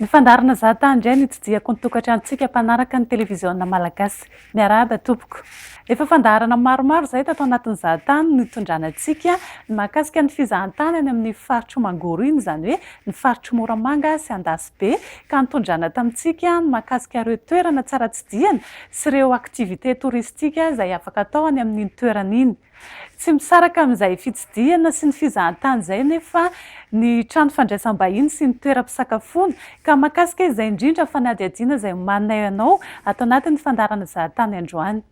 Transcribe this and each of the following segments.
Nifandarina za tany indray ny tsidihako ny tokantranontsika mpanaraka ny televiziona malagasy. Miarahaba tompoko. Efa fandaharana maromaro izay tato anatin'ny za tany no itondrana antsika ny mahakasika ny fizahantany any amin'ny faritr'i Mangoro iny izany hoe ny faritr'i Moramanga sy Andasibe ka nitondrana tamintsika ny mahakasika ireo toerana tsara tsidihana sy ireo activités touristiques izay afaka atao any amin'iny toerana iny. Tsy misaraka amin'izay fitsidihana sy ny fizahantany izay anefa ny trano fandraisam-bahiny sy ny toeram-pisakafoana, ka mahakasika izay indrindra fanadihadiana izay omaninay anao ato anatin'ny fandaharana Zahatany androany.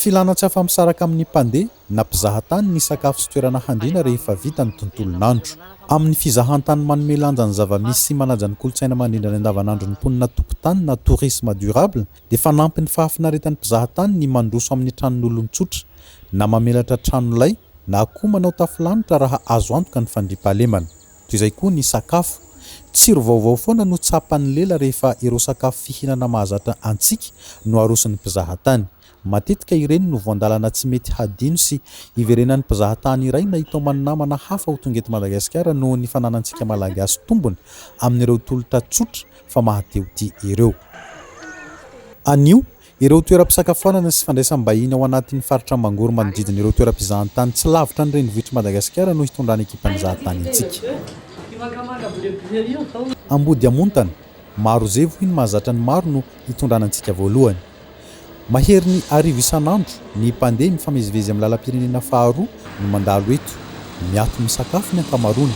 Filana tsy afa-misaraka amin'ny mpandeha na mpizahatany ny sakafo sy toerana handriana rehefa vita ny tontolon'andro. Amin'ny fizahantany manome lanja ny zava-misy sy manaja ny kolontsaina mandrindra ny andavanandron'ny mponina tompon-tany na tourisme durable dia fanampy ny fahafinaretan'ny mpizahatany ny mandroso amin'ny tranon'olon-tsotra na mamelatra tranolay na koa manao tafo lanitra raha azo antoka ny fandriampahalemana. Toy izay koa ny sakafo. Tsiro vaovao foana no tsapan'ny lela rehefa ireo sakafo fihinana mahazatra antsika no aroson'ny mpizahatany. Matetika ireny no voandalana tsy mety hadino sy hiverenan'ny mpizahatany iray na hitaoman'ny namana hafa ho tonga eto Madagasikara noho ny fananantsika Malagasy tombony amin'ireo tolotra tsotra fa mahatehotia ireo. Anio, ireo toeram-pisakafoanana sy fandraisam-bahiny ao anatin'ny faritra Mangoro manodidina ireo toeram-pizahantany tsy lavitra ny renivohitr'i Madagasikara no hitondrany ekipan'ny zahatany antsika. Ambodiamontana, Marozevo hoy ny mahazatra ny maro no hitondrana antsika voalohany. Maherin'ny arivo isan'andro ny mpandeha mifamezivezy amin'ny lalam-pirenena faharoa no mandalo eto. Miato misakafo ny ankamaroany.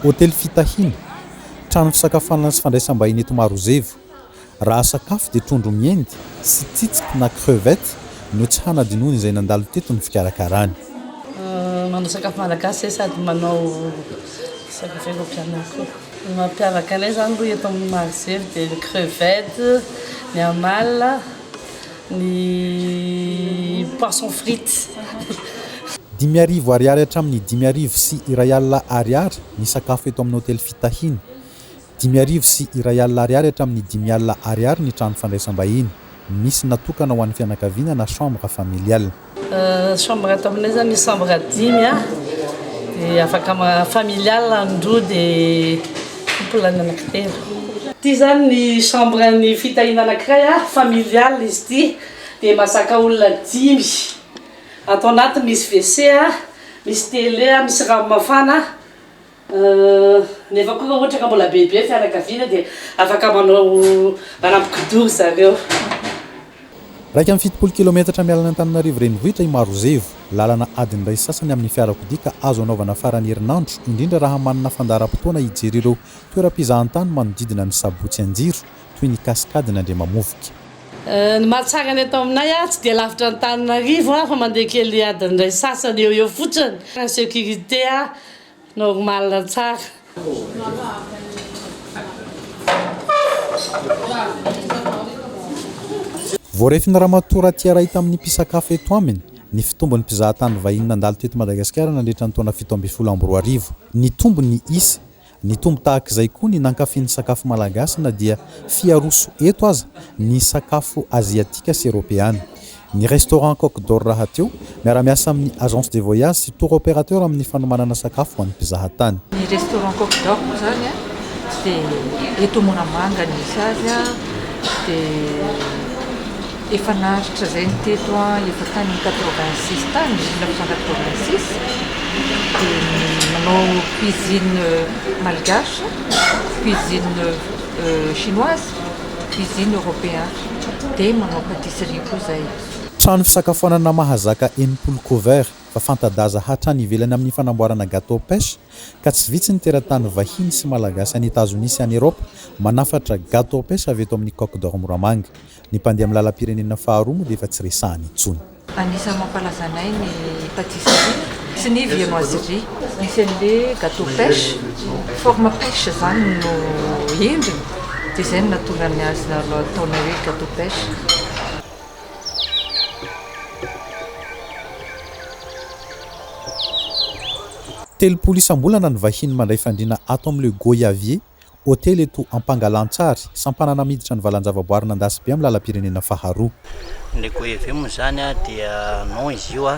Hotely fitahiana, trano fisakafoanana sy fandraisam-bahiny eto Marozevo. Raha sakafo dia trondro miendy sy tsitsiky na crevettes no tsy hanadinoan'izay nandalo teto ny fikarakarany. Manao sakafo malagasy izay sady manao sakafo eropeanina koa. Ny mampiavaka anay zany aloha eto amin'ny Marozery dia ny crevette, ny amala, ny poisson frite. Dimy arivo Ariary hatramin'ny dimy arivo sy iray alina Ariary ny sakafo eto amin'ny hotely fitahiana. Dimy arivo sy iray alina Ariary hatramin'ny dimy alina Ariary ny trano fandraisam-bahiny. Misy natokana ho an'ny fianakaviana na chambre familiale. Chambre ato aminay zany chambre dimy dia afaka familial ny roa dia couple ny anaky telo. Ity zany ny chambre ny fitahiana anakiray familial izy ity dia mazaka olona dimy ato anatiny misy WC misy tele misy rano mafana. Nefa koa raha ohatra ka mbola bebe ny fianakaviana dia afaka manao ranon-kidoro ry zareo. Iraika amby fitopolo kilaometatra miala an'Antananarivo renivohitra i Marozevo. Lalana adiny iray sy sasany amin'ny fiarakodia ka azo anaovana faran'ny herinandro, indrindra raha manana fandaharam-potoana hijery ireo toeram-pizahantany manodidina ny Sabotsy Anjiro, toy ny Cascade n'Andriamamovoka. Ny mahatsara ny eto aminay, tsy dia lavitra Antananarivo fa mandeha kely adiny iray sy sasany eo ho eo fotsiny. Ny sécurité. Normal tsara. Voarefin'i Ramatoa Ratiaray tamin'ny mpisakafo eto aminy ny fitombon'ny mpizahatany vahiny nandalo teto Madagasikara nandritra ny taona fito ambin'ny folo amby roa arivo. Nitombo ny isa. Nitombo tahaka izay koa ny nankafy ny sakafo malagasy na dia fiharoso eto aza ny sakafo aziatika sy eropeana. Ny Restaurant Coq d'Or rahateo, miara-miasa amin'ny Agence de Voyage sy Tour Opérateur amin'ny fanomanana sakafo ho an'ny mpizaha tany. Ny Restaurant Coq d'Or moa izany dia eto Moramanga no misy azy, dia efa naharitra izay ny teto efa tany quatre-vingt six tany, mille neuf cent quatre-vingt six, dia manao cuisine malgache, cuisine chinoise. Cuisine européen dia manao pâtisserie koa zay. Trano fisakafoanana mahazaka enimpolo cover fa fanta-daza hatrany ivelany amin'ny fanamboarana gateau pêche ka tsy vitsy ny teratany vahiny sy malagasy any Etazonia sy any Eropa manafatra gateau pêche avy eto amin'ny Coq d'Or Moramanga. Ny mpandeha amin'ny lalam-pirenena faharoa moa dia efa tsy resahana intsony. Anisan'ny mampalaza anay ny patisserie sy ny viennoiserie. Misy an'le gateau pêche, forme pêche zany no endriny de zay no nahatonga ny azy nataonay hoe gateau pêche. Telopolo isam-bolana ny vahiny mandray fandriana ato amin'ny Le Goyavier, Hotely eto Ampangalantsary, sampanana miditra ny valanjavaboary Nandasibe amin'ny lalam-pirenena faharoa. Ny goaivy moa izany dia nom izy io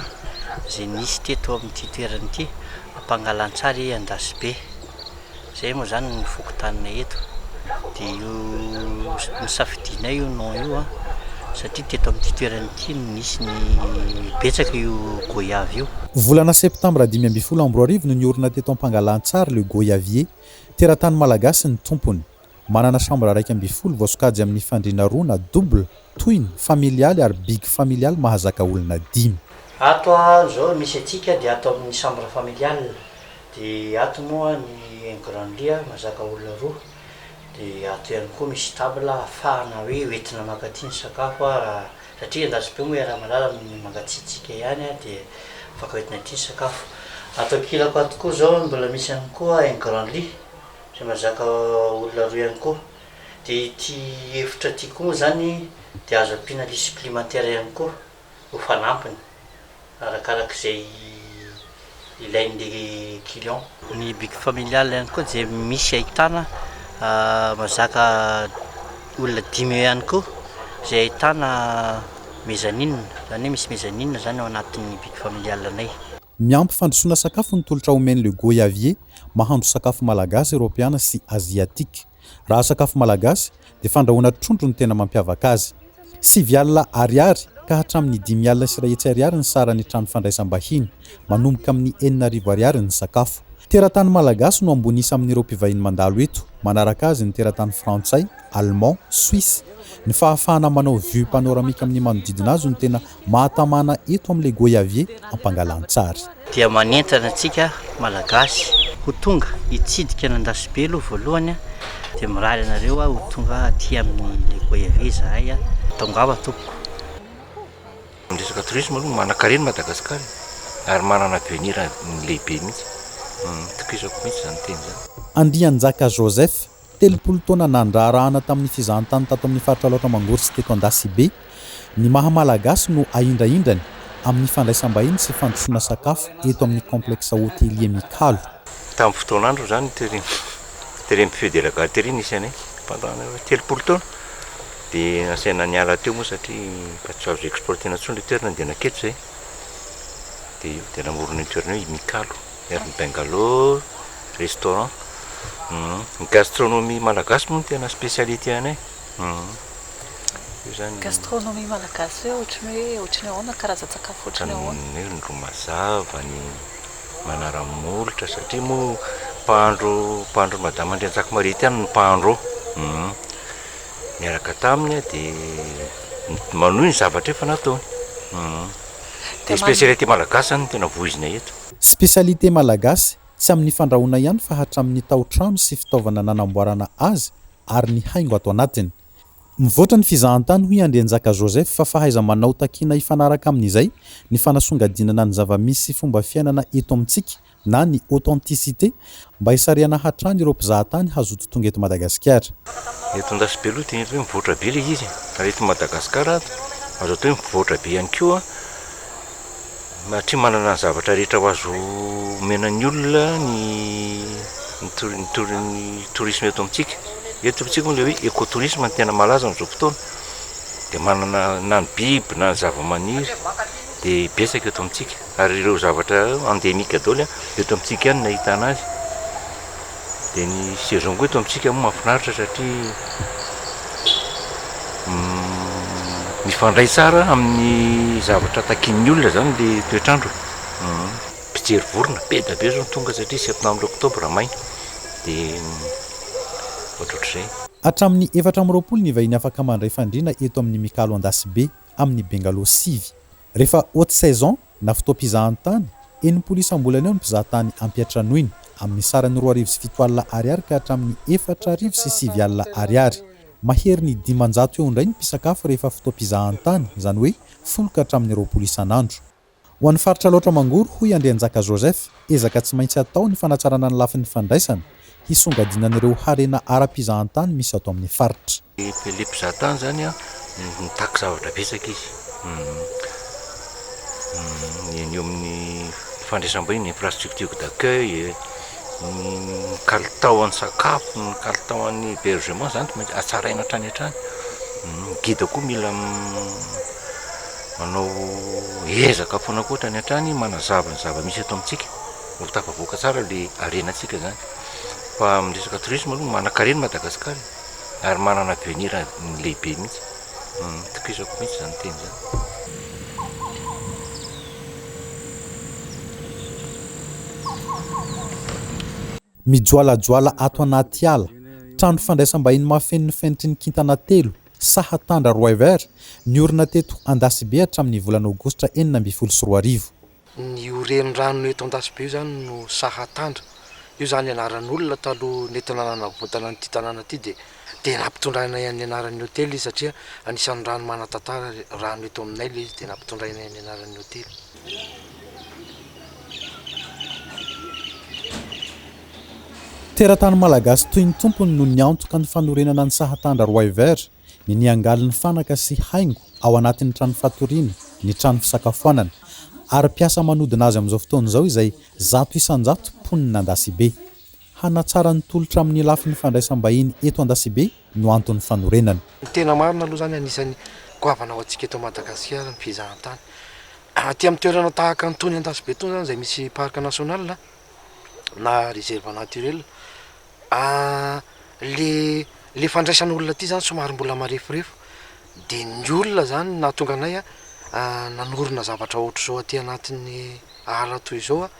izay nisy teto amin'ity toerana ity, Ampangalantsary Andasibe. Izay moa izany ny fokontaninay eto. Dia io nosafidianay io nom io satria teto amin'ity toerana ity no nisy ny betsaka io goyave io. Volana septambra dimy ambin'ny folo amby roa arivo no niorina teto Ampangalantsary le goyavier. Teratany malagasy ny tompony. Manana chambre iraika ambin'ny folo voasokajy amin'ny fandriana roa na double, tohiny, familialy ary big familialy mahazaka olona dimy. Ato an zao misy antsika dia ato amin'ny chambre familiale dia ato moa ny un grand lit an mazaka olona roa dia ato ihany koa misy table ahafahana hoe hoentina maka aty ny sakafo an raha Satria endasina moa i Ramalala ny mangatsiatsiaka ihany dia afaka hoentina aty ny sakafo. Ato ankilako ato koa izao mbola misy ihany koa un grand lit izay mahazaka olona roa ihany koa. Dia ity efitra ity koa moa izany dia azo ampiana lit supplémentaire ihany koa ho fanampiny. arakaraka izay ilain'ilay client. Ny bic familial ihany koa dia misy ahitana mazaka olona dimy eo ihany koa izay ahitana mezzanine, izany hoe misy mezzanine izany ao anatin'ny bic familial anay. Miampy fandrosoana sakafo ny tolotra omen'i Le Goyavier mahandro sakafo malagasy, eropeana sy aziatika. Raha sakafo malagasy dia fandrahoana trondro no tena mampiavaka azy. Sivy alina ariary ka hatramin'ny dimy alina sy iray hetsy ariary ny saran'ny trano fandraisam-bahiny. Manomboka amin'ny enina arivo ariary ny sakafo. Teratany malagasy no ambony isa amin'ireo mpivahiny mandalo eto. Manaraka azy ny teratany frantsay, allemand, suisse. Ny fahafahana manao vue panoramique amin'ny manodidina azy no tena mahatamana eto amin'ilay goyavier ampangalan-tsary. Dia manentana antsika Malagasy ho tonga hitsidika an'Andasibe aloha voalohany dia mirary anareo ho tonga aty amin'ilay goyavier izahay. Tongava tompoko. Ny resaka tourisme aloha manankarena Madagascar e! ary manana avenir lehibe mihitsy. Itokisako mihitsy izany teny izany. Andrianjaka Joseph Telopolo taona nandraharahana tamin'ny fizahantany tato amin'ny faritra Alaotra Mangoro sy teto Andasibe, ny maha Malagasy no ahindrahindrany amin'ny fandraisam-bahiny sy fandrosoana sakafo eto amin'ny Complexe Hotelier Mikalo. Tamin'ny fotoan'androny izany ny Terim, Terim Feu de la Gâterie nisy anay pendant telopolo taona dia nasaina niala teo moa satria efa tsy azo exploiter-na intsony ilay toerana dia nanketsa izahay dia io dia namorona io toerana io i Mikalo. Ery Bangalore restaurant ny gastronomie malagasy moa no tena spécialité anay io zany. Gastronomie malagasy hoe ohatran'ny hoe ohatran'ny ahoana karazan-tsakafo ohatran'ny ahoana? Ny hoe ny ro mazava, ny manara-molotra satria moa mpahandro mpahandron'i madama Andriantsakomaria ity ihany no mpahandro ao niaraka taminy aho dia manohy ny zavatra efa nataony dia spécialité malagasy zany no tena voizina eto. Spécialité malagasy, tsy amin'ny fandrahoana ihany fa hatramin'ny tao-trano sy fitaovana nanamboarana azy ary ny haingo ato anatiny. Mivoatra ny fizahantany hoy Andrianjaka Joseph fa fahaiza-manao takiana hifanaraka amin'izay ny fanasongadinana ny zava-misy sy fomba fiainana eto amintsika na ny authenticité Mba hisarihana hatrany ireo mpizahatany hazoto tonga eto Madagasikara. Eto Andasibeloha dia mety hoe mivoatra be ilay izy ary eto Madagasikara azo atao hoe mivoatra be ihany koa satria manana ny zavatra rehetra ho azo omena ny olona ny ny tourisme eto amintsika. Eto amintsika moa ilay hoe écotourisme no tena malaza amin'izao fotoana dia manana na ny biby na ny zavamaniry dia betsaka eto amintsika. Ary ireo zavatra endemique daholo a, eto amintsika ihany no ahitana azy, dia ny saison koa eto amintsika moa mahafinaritra satria mifandray tsara amin'ny zavatra takian'ny olona izany le toetr'andro e, mpijery vorona be dia be zao no tonga satria septembre octobre maina dia ohatrohatr'izay. Hatramin'ny efatra amby roapolo ny vahiny afaka mandray fandriana eto amin'ny Mikalo Andasibe. amin'ny bengalô sivy. Rehefa haute saison na fotoam-pizahantany, enimpolo isam-bolana eo ny mpizahatany ampiantranoina, amin'ny sarany roa arivo sy fito alina ariary ka hatramin'ny efatra arivo sy sivy alina ariary. Maherin'ny dimanjato eo indray ny mpisakafo rehefa fotoam-pizahantany, izany hoe folo ka hatramin'ny roapolo isan'andro. Ho an'ny faritra Alaotra Mangoro, hoy Andrianjaka Joseph, ezaka tsy maintsy atao ny fanatsarana ny lafiny fandraisana, hisongadinana ireo harena ara-pizahantany misy ato amin'ny faritra. Tele mpizahatany izany an, mitaky zavatra betsaka izy, ny eo amin'ny fandraisam-bahiny, ny infrastructure d'accueil, ny kalitaon'ny sakafo, ny kalitaon'ny hebergement, izany tsy maintsy hatsaraina hatrany hatrany, ny guide koa mila Manao ezaka foana koa hatrany hatrany manazava ny zava-misy eto amintsika, mba ho tafavoaka tsara ilay harenantsika izany. Fa amin'ny resaka tourisme aloha manankarena i Madagasikara e, ary manana avenir lehibe mihitsy. Itokisako mihitsy izany teny izany. Mijoalajoala ato anaty ala, trano fandraisam-bahiny mahafeno ny fenitry ny kintana telo, saha Tandra Roiver, niorina teto Andasibe hatramin'ny volana Aogositra enina ambin'ny folo sy roa arivo. Ny io renirano eto Andasibe io izany no saha Tandra. Io izany anaran'olona taloha nentina nanavotana an'ity tanàna ity dia dia nampitondraina ny anaran'ny hotely izy satria anisan'ny rano manan-tantara rano eto aminay ilay izy dia nampitondraina ny anaran'ny hotely. Teratany malagasy toy ny tompony no niantoka ny fanorenana ny sahatandra Roy Vert, ny niangaly ny fanaka sy haingo ao anatin'ny trano fatoriana, ny trano fisakafoanana. Ary mpiasa manodina azy amin'izao fotoana izao izay zato isan-jato mponina Andasibe. Hanatsara ny tolotra amin'ny lafiny fandraisam-bahiny eto Andasibe no anton'ny fanorenana. Ny tena marina aloha izany, anisan'ny goavana ho antsika eto Madagasikara ny fizahantany. Aty amin'ny toerana tahaka an'itony Andasibe itony izany izay misy parc national, na reserve naturel ah, le le fandraisan'olona aty zany somary mbola mareforefo de ny olona zany no nahatonga anay a ah, nanorina zavatra ohatr'izao aty anatin'ny ala toy izao a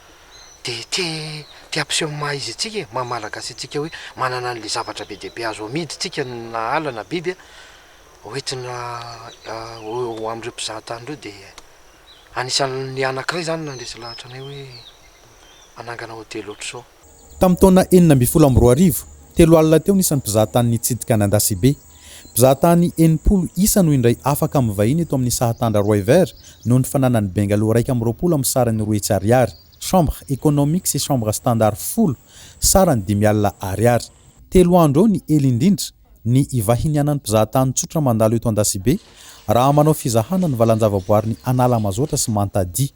de te te hampiseho ny maha izy antsika e, maha malagasy antsika hoe manana an'le zavatra be dia be azo amidy tsika na ala na biby a hoentina ho ho am'ireo mpizahatany ireo de. Anisan'ny anankiray izany nandresy lahatra anay hoe hanangana hotely ohatr'izao. Tamin'ny taona enina ambin'ny folo amby roa arivo, telo alina teo ny isan'ny mpizahatany nitsidika an'Andasibe. Mpizahatany enimpolo isa no indray afaka amin'ny vahiny eto amin'ny sahatandra Roiver noho ny fananany bengalow iraika amby roapolo amin'ny sarany roa hetsy ariary, chambre économique sy chambre standard folo, sarany dimy alina ariary. Telo andro eo ny ela indrindra. ny ivahinianan'ny mpizahatany tsotra mandalo eto Andasibe raha manao fizahana ny valan-javaboarin'i Analamazotra sy Mantadia.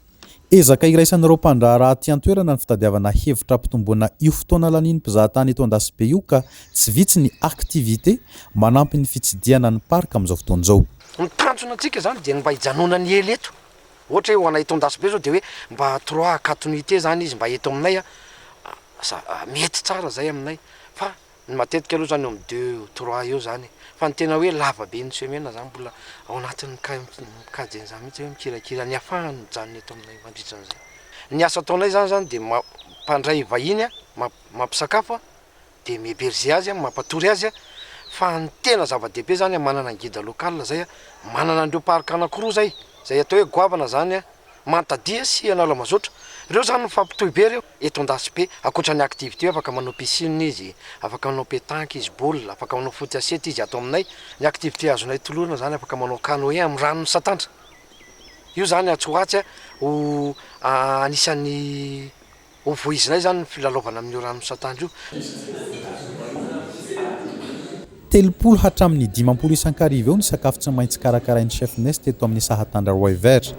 Ezaka iraisan'ireo mpandraharaha aty an-toerana ny fitadiavana hevitra hampitomboana io fotoana lanian'ny mpizahatany eto Andasibe io ka tsy vitsy ny activités manampy ny fitsidihana ny parc amin'izao fotoana izao. Ny tanjona antsika izany dia ny mba hijanonany ela eto, ohatra hoe ho anay eto Andasibe izao dia hoe mba trois à quatre nuitées izany izy mba eto aminay, mety tsara izay aminay fa Ny matetika aloha zany eo amin'ny deux, trois eo zany e. Fa ny tena hoe lava be ny semaine zany mbola ao anatin'ny cas mikajy an'izany mihitsy hoe mikirakira ny hafahany mijanona eto aminay mandritra an'izay. Ny asa ataonay zany zany dia mampandray vahiny a, mampisakafo a, dia mi-heberger azy a, mampatory azy a, fa ny tena zava-dehibe zany a manana ny guide local zay a, manana an'ireo parc anankiroa zay, zay atao hoe goavana zany a, manta dia sy analamazotra, ireo zany mifampitohy be ireo. Eto Andasibe, ankoatra ny activités afaka manao piscine izy, afaka manao pétanque izy, boule, afaka manao foot à sept izy ato aminay. Ny activités azonay tolorana izany afaka manao canoë amin'ny rano misantantra. Io izany atsy ho atsy a, ho anisan'ny ho voizinay izany ny filalaovana amin'io rano misantantra io. Telopolo hatramin'ny dimampolo isan-kariva eo ny sakafo tsy maintsy karakarain'ny Chef Nest teto amin'ny saha Tandra Roy Vert.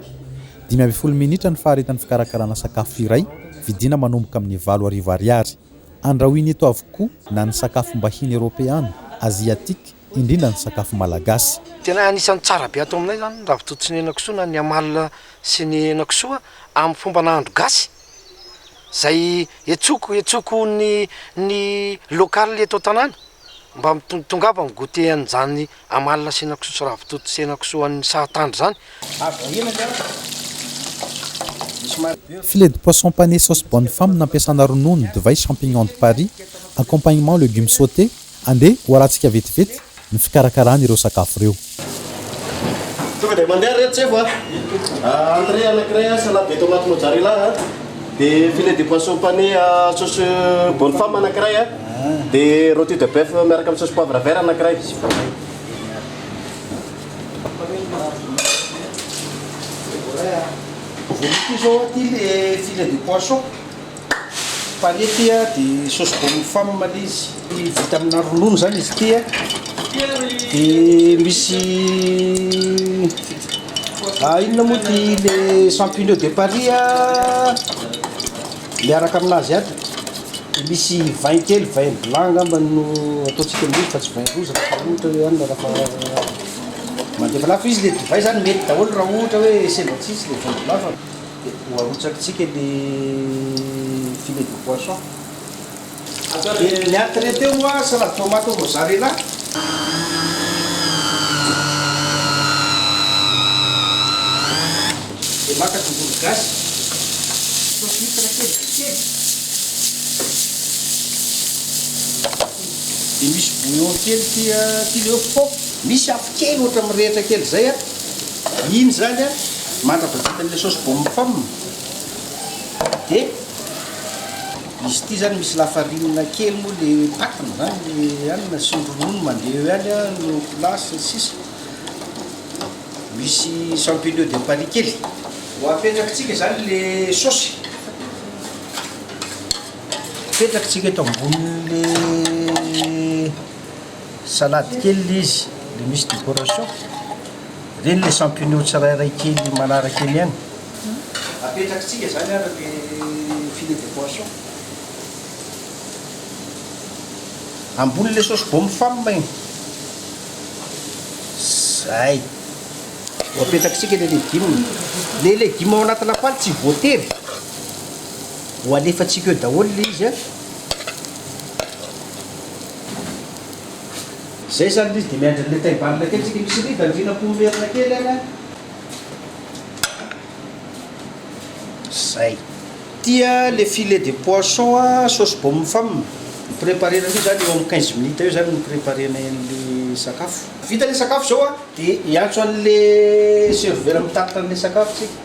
Dimy ambin'ny folo minitra ny faharetan'ny fikarakarana sakafo iray, vidiana manomboka amin'ny valo arivo ariary. Andrahoina eto avokoa na ny sakafom-bahiny eropeana, aziatika, indrindra ny sakafo malagasy. Tena anisan'ny tsara be ato aminay izany ny ravitoto sy ny henakisoa na ny amalona sy ny henakisoa amin'ny fomba nahandro gasy, izay etsoko, etsoko ny ny local eto an-tanàna. mba mitongava am goûter an'izany amalona sy henakisoa sy ravitoto sy henakisoa an'ny sahatandry zany. Filet de poisson pané sauce bonne femme nampiasana ronono, divay, champignons de Paris, accompagnement legumes sautés, andeha ho arahantsika vetivety ny fikarakarana ireo sakafo ireo. Tonga dia mandeha ry reto tsefo a! Entrée anankiray a, salade de tomate mozzarella a, dia filet de poisson pané à sauce bonne femme anankiray a, dia roti de boeuf miaraka amin'ny sauce poivre vert anankiray. Voalohany koa izao aty ilay filet de poisson. Pâné ity a, de sauce bonne femme le izy, vita amina ronono zany izy ity a, de misy ah inona moa ty le champignons de Paris a miaraka aminazy aby, de misy vin kely, vin blanc ngamba no ataontsika amin'io fa tsy vin rouge raha atao ohatra hoe anona raha mandefa an'azy, fa izy le divay zany mety daholo raha ohatra hoe sendra tsisy le vin blanc fa. Dia ho arotsakitsika ny filet de poisson. Dia ny entrée teo moa salade tomate au mozzarella. Dia maka tongolo gasy, saosy huitre kely vitsy kely. Dia misy bouillon kely ity ilay hoe pot. Misy afo kely ohatra mirehitra kely izay. Iny zany a mandrapahavita an'ilay sauce bommy femme de izy ity zany misy lafarinina kely moa le patiny zany le hanina sy ny ronono mandeha eo ihany a no colas sy ny sisa misy champignon de paris kely ho apetrakitsika zany le sauce apetrakitsika eto ambonin'le Salade kely ilay izy, ilay misy décoration. Ireny ilay champignon tsirairay kely manaraka eny ihany. Apetrakitsika izany ary ilay filet de poisson. Ambonin'ilay saosy baume femme iny. Izay. Ho apetrakitsika ilay legume. Ilay legume ao anaty lapoaly tsy voatery ho alefantsika eo daholo ilay izy an. Zay zany ilay izy dia miandry an'ilay tay bal kely tsika misy ribany ry nampoa merina kely any an! Zay. Tia le filet de poisson a sauce bombe femme. Ny preparer an'io zany eo am quinze minutes eo zany ny preparer ny sakafo. Vita le sakafo zao a dia hiantso an'le serveur mitatitra an'le sakafo tsika.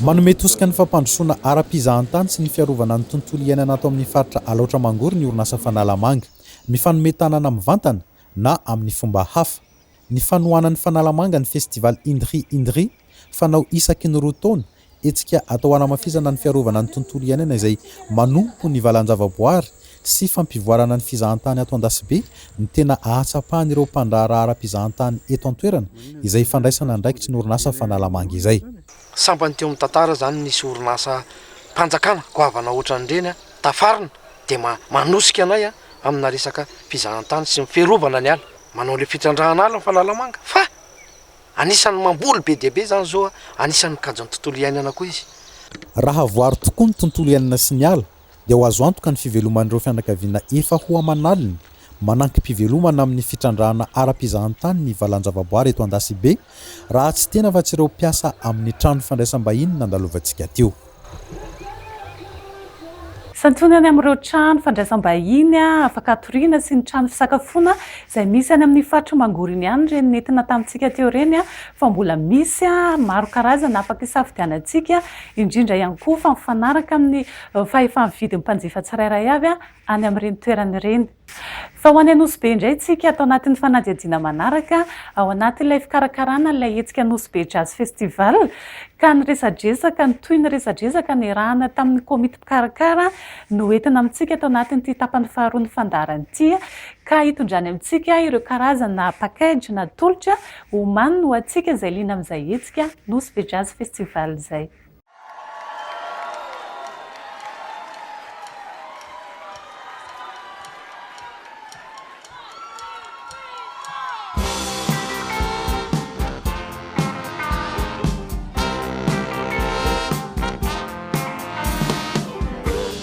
Manome tosika ny fampandrosoana ara-pizahantany sy ny fiarovana ny tontolo iainana ato amin'ny faritra Alaotra Mangoro ny orinasa Fanalamanga. Mifanome tanana mivantana na amin'ny fomba hafa. Ny fanohanan'ny Fanalamanga ny Festival Indri Indri, fanao isaky ny roa taona, hetsika atao hanamafisana ny fiarovana ny tontolo iainana izay manompo ny valan-javaboary sy fampivoarana ny fizahantany ato Andasibe ny tena ahatsapan'ireo mpandraharaha ara-pizahantany eto an-toerana izay ifandraisana andraikitry ny orinasa Fanalamanga izay. Sambany teo amin'ny tantara izany nisy orinasa mpanjakana goavana ohatran'ireny a! tafarina dia ma manosika anay a! amina resaka fizahantany sy ny fiarovana ny ala. Manao ilay fitrandrahana ala ny Fanalamanga fa anisan'ny mamboly be dia be izany izao a! anisan'ny mikajy ny tontolo iainana koa izy. Raha voaro tokoa ny tontolo iainana sy ny ala dia ho azo antoka ny fiveloman'ireo fianakaviana efa ho aman'aliny manankimpivelomana amin'ny fitrandrahana ara-pizahantany ny valan-javaboary eto Andasibe, raha tsy tena afa-tsy ireo mpiasa amin'ny trano fandraisam-bahiny nandalovantsika teo. Santionany amin'ireo trano fandraisam-bahiny afaka hatoriana sy ny trano fisakafoana izay misy any amin'ny faritry Mangoriny ihany ireny nentina tamintsika teo ireny fa mbola misy maro karazana afaka hisafidianantsika indrindra ihany koa fa mifanaraka amin'ny fahefa-mividin'ny mpanjifa tsirairay avy any amin'ireny toerana ireny. Fa ho any Anosibe indray isika ato anatin'ny fanadihadiana manaraka ao anatin'ilay fikarakarana ilay hetsika Anosibe Jazz Festival ka ny resadresaka ny tohin'ny resadresaka niarahana tamin'ny komity mpikarakara no entina amintsika ato anatin'ity tapany faharoan'ny fandaharana ity ka hitondrany amintsika ireo karazana package natolotra Oman ho antsika izay liana amin'izay hetsika Nosy be Jazz Festival izay.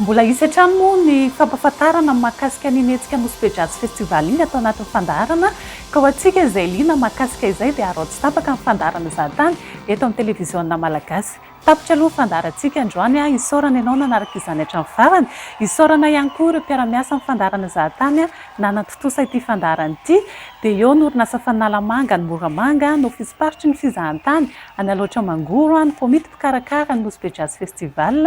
Mbola hisy hatrany moa ny fampahafantarana ny mahakasika an'iny hetsika Nosy-Be Jazz Festival iny atao anatin'ny fandaharana ka ho antsika izay liana mahakasika izay dia araho tsy tapaka ny fandaharana izany tany eto amin'ny televiziona Malagasy. Tapitra aloha fandaharantsika androany a! Isaorana ianao nanaraka izany hatramin'ny farany. Isaorana ihany koa ireo mpiara-miasa amin'ny fandaharana Zahatany nanantontosa ity fandaharana ity. Dia eo ny orinasa Faninalamanga any Moramanga, ny ofism-paritry ny fizahantany any Alaotra Mangoro, ny komity mpikarakara ny Nosy Be Jazz Festival,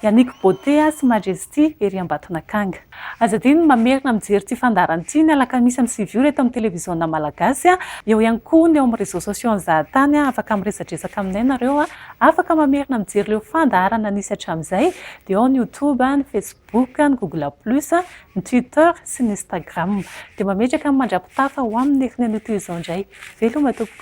Yannick Beauté sy Majesté. ity ery Ambatonakanga. Aza adino ny mamerina mijery ity fandaharana ity ny alakamisy amin'ny sivy ora eto amin'ny televiziona malagasy. Eo ihany koa ny eo amin'ny réseaux sociaux an'i Zahatany. Afaka miresadresaka aminay nareo. Afaka mamerina mijery ireo fandaharana nisy hatramin'izay dia ao ny youtube, ny facebook, ny google plus, ny twitter sy ny instagram. Dia mametraka ny mandrapitafa ho amin'ny herin'ny anio toy izao indray. Veloma tompoko.